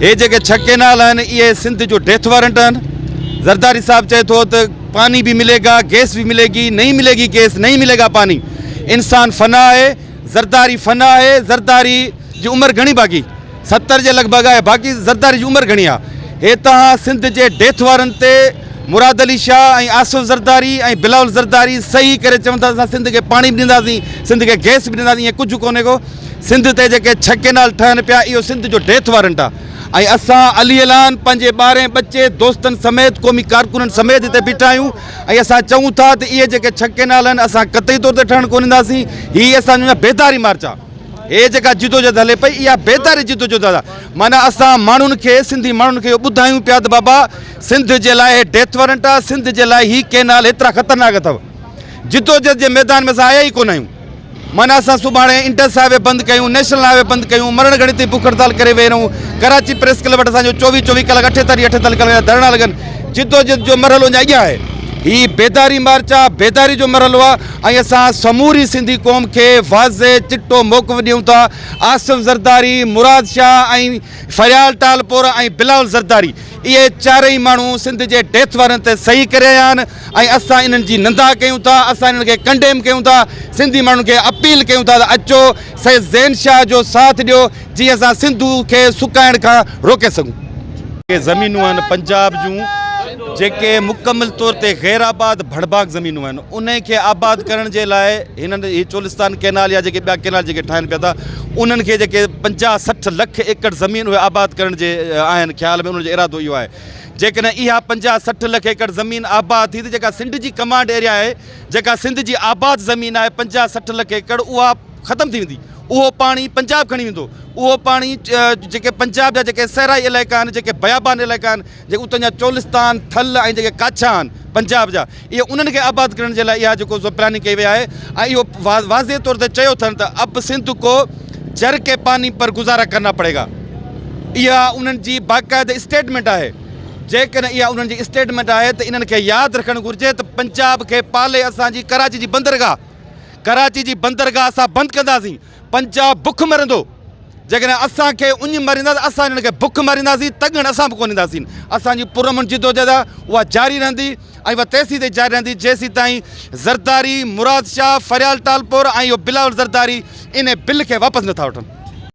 هي جيڪي ڇهه ڪينال آهن اهي سنڌ جو ڊيٿ وارنٽ آهن زرداري صاحب چئي ٿو ته پاني به ملي گا گيس به ملي گي نئي ملي گي گيس نئي ملي گا پاني انسان فنا آهي زرداري فنا آهي زرداري جي عمر گهڻي باقي ستر جي لڳ ڀڳ آهي باقي زرداري جي عمر گهڻي آهي هي توهان سنڌ جي ڊيٿ وارنٽ تي مراد علي شاهه ۽ آصف زرداري ۽ بلاول زرداري صحيح ڪري چون ٿا ته اسان سنڌ کي پاڻي به ڏينداسين سنڌ کي گئس به ڏينداسين ائين ڪجهه ڪونهي ڪو سنڌ تي جيڪي ڇهه ڪينال ٺهن پيا اهو سنڌ جو ڊيٿ وارنٽ آهي ۽ اسان علي اعلان پنهنجي ٻارهين ٻچي دوستن سميت قومي ڪارڪنن سميت هتي بيٺا آهيون ۽ اسان چئون ٿا ته اهي جيڪي ڇهه ڪينال آهن اسان قطعي طور تي ٺهڻ ڪونه ڏينداسين هي اسان جو بيداري مارچ آهي هي جيڪا جدوجهد هلي پئي اها بيداري جدوجهد آهي معنيٰ اسان ماڻهن کي سنڌي ماڻهن کي اهو ٻڌايون پيا ته بابا سنڌ جي لاء هي ڊيٿ وارنٽ آ سنڌ جي لاء هي ڪينال هيترا خطرناڪ اٿو جدوجد جي ميدان ۾ سان آيا ئي ڪون آهيون معنيٰ اسان سڀاڻي انٽس هاء وي بند ڪيون نيشنل هاء وي بند ڪيون مرڻ گهڙي تي بک هڙتال ڪري ويهي رهون ڪراچي پريس ڪلب وٽ اسان جو چوويهه چوويهه ڪلاڪ اٺيتاليهه اٺيتاليهه ڪلاڪ جا ڌرڻا لڳن جدوجد جو مرحلو اڃا اڳيان آهي هي بيداري مارچ آ بيداري جو مرحلو آ ۽ اسان سموري سنڌي قوم کي واضح چٽو موقف ڏيون ٿا آصف زرداري مراد شاهه ۽ فريال ٽالپور ۽ بلاول زرداري اهي چارئي ماڻهو سنڌ جي ڊيٿ وارنٽ تي صحيح ڪري رهيا آهن ۽ اسان انهن جي نندا ڪيون ٿا اسان انهن کي ڪنڊيم ڪيون ٿا سنڌي ماڻهن کي اپيل ڪيون ٿا ته اچو سيد زين شاهه جو ساٿ ڏيو جيئن اسان سنڌو کي سڪائڻ کان روڪي سگهون. اهي زمينون آهن پنجاب جون جيڪي مڪمل طور تي غير آباد ڀڙڀاڪ زمينون آهن انهن کي آباد ڪرڻ جي لاء هنن هي چولستان ڪئنال يا جيڪي ٻيا ڪئنال جيڪي ٺاهن پيا ٿا انهن کي جيڪي پنجاهه سٺ لک ايڪڙ زمين اهي آباد ڪرڻ جي آهن خيال ۾ انهن جو ارادو اهو آهي جيڪڏهن اها پنجاهه سٺ لک ايڪڙ زمين آباد ٿي ته جيڪا سنڊ جي ڪمانڊ ايريا آهي جيڪا سنڌ جي آباد زمين آهي پنجاهه سٺ لک ايڪڙ اها ختم ٿي ويندي اهو پاڻي پنجاب کڻي ويندو اهو پاڻي جيڪي پنجاب جا جيڪي صحرائي علائقا آهن جيڪي بيابان علائقا آهن جيڪي اتان جا چولستان، ٿل ۽ جيڪي ڪاڇا آهن پنجاب جا اهي انهن کي آباد ڪرڻ جي لاء اها جيڪو سو پلاننگ ڪئي وئي آهي ۽ اهو واضح طور تي چيو اٿن ته اب سنڌ ڪو جر ڪي پاني پر گذارا ڪرنا پڙي گا اها انهن جي باقاعده اسٽيٽمينٽ آهي جيڪڏهن اها انهن جي اسٽيٽمينٽ آهي ته انهن کي ياد رکڻ گهرجي ته پنجاب کي پالي اسان جي ڪراچي جي بندرگاهه ڪراچي جي بندرگاهه اسان بند ڪنداسين پنجاب بک مرندو جيڪڏهن اسان کي اڃ مريندا ته اسان انهن کي بک مرينداسين تڳڻ اسان به ڪونه اينداسين اسان جي پرامن جدوجهد آهي اها جاري رهندي ۽ اها تيسين تائين جاري رهندي جيسين تائين زرداري مراد شاهه فريال ٽالپر ۽ اهو بلاول زرداري انهي بل کي واپس نٿا وٺن.